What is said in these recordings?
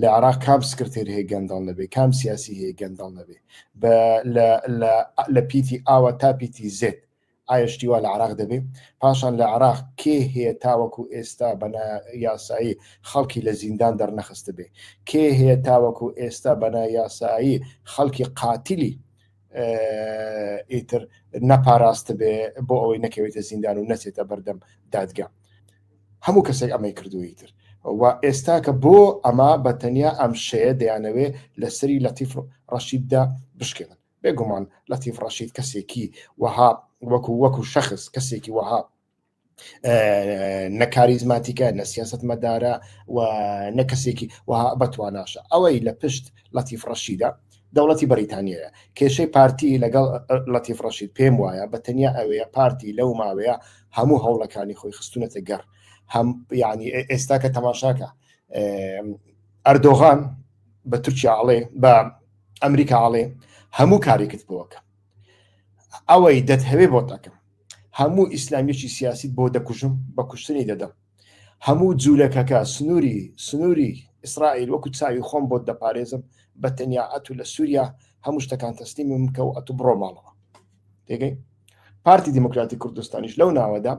لە عێراق کام سکرتێر هەیە گەندەڵ نەبێ کام سیاسی هەیە گەندەڵ نەبێ لە پیتی ئاوە تا پیتی زێت ئایشتیوا لە عراق دەبێ پاشان لە عراق کێ هەیە تاوەکو ئێستا بەنا یاسایی خەڵکی لە زیندان دەرنەخست بێ کێ هەیە تاوەکو ئێستا بەنا یاسایی خەڵکی قاتلی ئیتر نەپاراست بێ بۆ ئەوەی نەکەوێتە زیندان و نەچێتە بەردەم دادگا هەموو کەسێک ئەمەی کردووی تر و ئێستا کە بۆ ئەمە بە تەنیا ئەم شەیە دەیانەوێ لە سری لەتیف ڕەشیددا بشکێنن بێگومان لەتیف ڕەشید کەسێکی وەها وەکو وەکو شخص کەسێکی وەها نەکاریزماتیکە نە سیاست مەدارە و نە کەسێکی وەها بەتواناشە ئەوەی لە پشت لەتیف ڕەشیدا دەوڵەتی بەریتانیەیە کێشەی پارتی لەگەڵ لەتیف ڕەشید پێم وایە بە تەنیا ئەوەیە پارتی لەو ماوەیە هەموو هەوڵەکانی خۆی خستونەتە گەڕ هەم یعنی ئێستا کە تەماشاکە ئەردۆغان بە تورکیا ئاڵێ بە ئەمریکا ئاڵێ هەموو کارێکت بۆکە ئەوەی دەتهەوێ بۆ تاکەم هەموو ئیسلامیەکی سیاسی بۆ دەکوژم بە کوشتنی دەدەم هەموو جولەکەکە سنوری سنوری ئیسرائیل وەکو چاوی خۆم بۆت دەپارێزم بە تەنیا ئەتو لە سوریا هەموو شتەکان تەسلیمی من کەو ئەتو بڕۆ ماڵەوە تێگەی پارتی دیموکراتی کوردستانیش لەو ناوەدا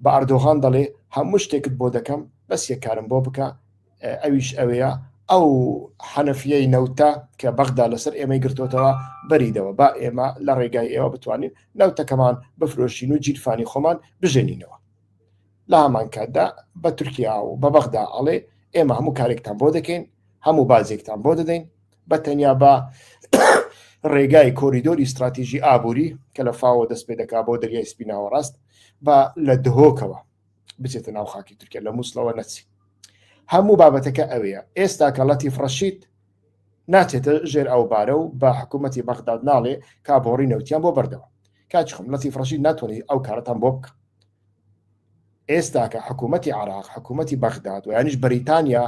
بە ئەردۆغان دەڵێ هەموو شتێکت بۆ دەکەم بەس یەکارم بۆ بکە ئەویش ئەوەیە ئەو حەنەفیەی نەوتە کە بەغدا لەسەر ئێمەی گرتوتەوە بەریدەوە با ئێمە لە ڕێگای ئێوە بتوانین نەوتەکەمان بفرۆشین و جیرفانی خۆمان بژێنینەوە لە هەمان کاتدا بە تورکیا و بە بەغدا ئەڵێ ئێمە هەموو کارێکتان بۆ دەکەین هەموو بازێکتان بۆ دەدەین بە تەنیا بە ڕێگای کۆریدۆری استراتیژی ئابووری کە لە فاوە دەست پێ دەکا بۆ دەریای سپیناوە ڕاست بە لە دهۆکەوە بچێتە ناو خاکی تورکیا لە مووسڵەوە نەچی هەموو بابەتەکە ئەوەیە ئێستا کە ڵەتی فڕەشید ناچێتە ژێر ئەو بارە و بە حکوومەتتی بەغداد ناڵێ کابۆڕی نەوتیان بۆ بەردەوە کاچخم لەتی فڕەشید ناتوانانی ئەو کارەتان بۆ بکە ئێستاکە حکوومەتی عراق حکوومەتی بەغداد و یانیش بەریتانیا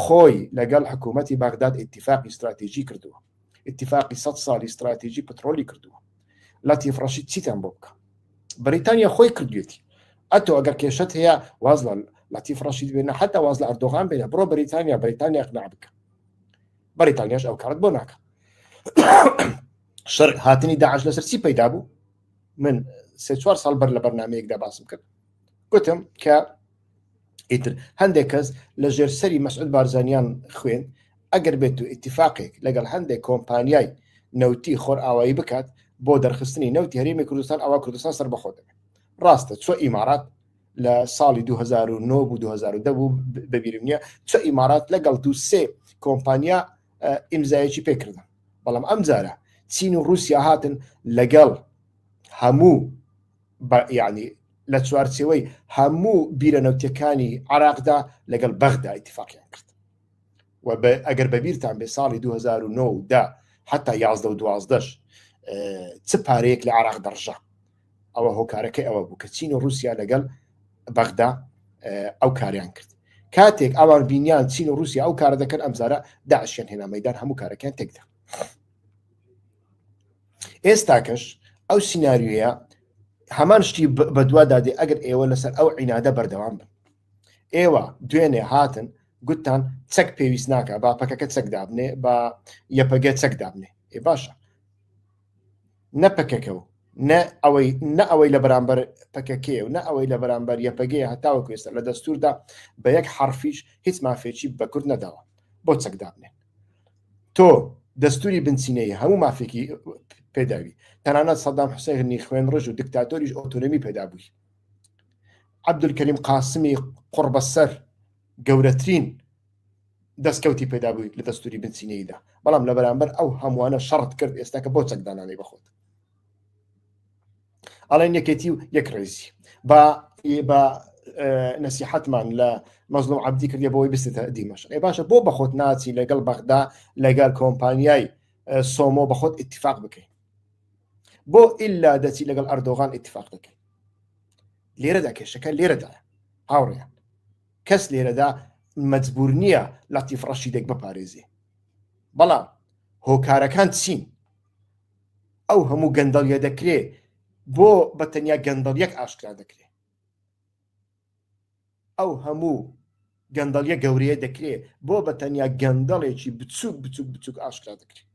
خۆی لەگەڵ حکوومەتی بەغداد ئتیفاقی استراتیژی کردووە ئتیفاقی سە ساڵی استراتیژی پترۆلی کردووە لە تیفڕەشی چیتان بۆ بکە بەریتانیا خۆی کردوێتی ئەتۆ ئەگەر کێشت هەیە واز لە لە تیفڕەشی بێنە حتا واز لە ئەردۆغان بێنە بڕۆ بەریتانیا بەریتانیا قنا بکە بەریتانیاش ئەو کارت بۆ ناکە شەر هاتنی داعش لەسەر چی پەیدا بوو من سێ چوار ساڵ بەر لە بەرنمەیەکدا باسم کرد گوتم کە ئیتر هەندێک کەس لە ژێر سەری مەسعود بارزانیان خوێن ئەگەر بێت و ئیتفاقێک لەگەڵ هەندێک کۆمپانیای نەوتی خۆر ئاوایی بکات بۆ دەرخستنی نەوتی هەرێمی کوردستان ئەوە کوردستان سەر بەخۆ دەبێت ڕاستە چۆ ئیمارات لە ساڵی 2009 بوو 2010 بوو بەبیرم نیە چە ئیمارات لەگەڵ دو سێ کۆمپانیا ئیمزایەکی پێکردن بەڵام ئەم جارە چین و رووسیا هاتن لەگەڵ هەموو یعنی لە چوارچەوەی هەموو بیرە نەوتەکانی عراقدا لەگەڵ بەغدا اتفاقیان کرد و ئەگەر بەبییران بێ ساڵی 2009دا حتا 11 دوازدەش چ پارەیەک لە عراق دەڕژە ئەوە هۆکارەکەی ئەوە بوو کە چین و رووسیا لەگەڵ بەغدا ئەو کاریان کرد کاتێک ئەوان بینیان چین و رووسیا ئەو کارە دەکەن ئەمزارە داعشیان هێنا مەدان هەموو کارەکەیان تێکدا ئێستاکەش ئەو سینناریوە هەمان شتی بەدوادادێ ئەگەر ئێوە لەسەر ئەو عینادە بەردەوام بن ئێوە دوێنێ هاتن گوتتان چەک پێویست ناکە با پەکەکە چەک دابنێ بە یەپەگە چەک دابنێ ئێ باشە نە پەکەکە و نە ئەوەی نە ئەوەی لە بەرامبەر پەکەکێ و نە ئەوەی لە بەرامبەر یەپەگەی هەتاوە کوێستە لە دەستوردا بە یەک حرفیش هیچ مافێکی بە کورد نەداوە بۆ چەکدابنێ تۆ دەستوری بنچینەیە هەموو مافێکی پێداوی تەنانەت سەدام حوسێنی خوێن ڕژ و دکتاتۆریش ئۆتۆنمی پێدابووی عبدولکەریم قاسمی قڕبەسەر گەورەترین دەستکەوتی پەیدا بوویت لە دەستوری بنچینەییدا، بەڵام لە بەرامبەر ئەو هەمووانە شەڕت کرد ئێستا کە بۆ چەک دانانەی بەخۆت. ئەڵێن یەکێتی و یەک ڕێزی با بە نسیحەتمان لە مەزلوم عبدی کردی بۆی بستێتە دیمەش ئێ باشە بۆ بەخۆت ناچی لەگەڵ بەغدا لەگەر کۆمپانیای سۆمۆ بەخۆت اتفاق بکەین بۆ ئللا دەچی لەگەڵ ئەردۆغان اتفاق دەکەین لێرەدا کێشەکە لێرەدا هاوڕێیان کەس لێرەدا مەجبور نییە لەتیف ڕەشیدێک بپارێزێ بەڵام هۆکارەکان چین ئەو هەموو گەندەڵیە دەکرێ بۆ بە تەنیا گەندەڵیەک ئاشکرا دەکرێ ئەو هەموو گەندەڵیە گەورەیە دەکرێ بۆ بە تەنیا گەندەڵێکی بچووک بچووک بچووک ئاشکرا دەکرێت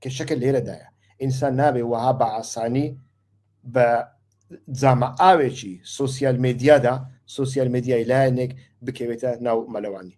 کێشەکە لێرەدایە ئینسان نابێ وەها بە ئاسانی بە جامە ئاوێکی سوسیال مدیادا سوسیال مدیای لایەنێک بکەوێتە ناو مەلەوانی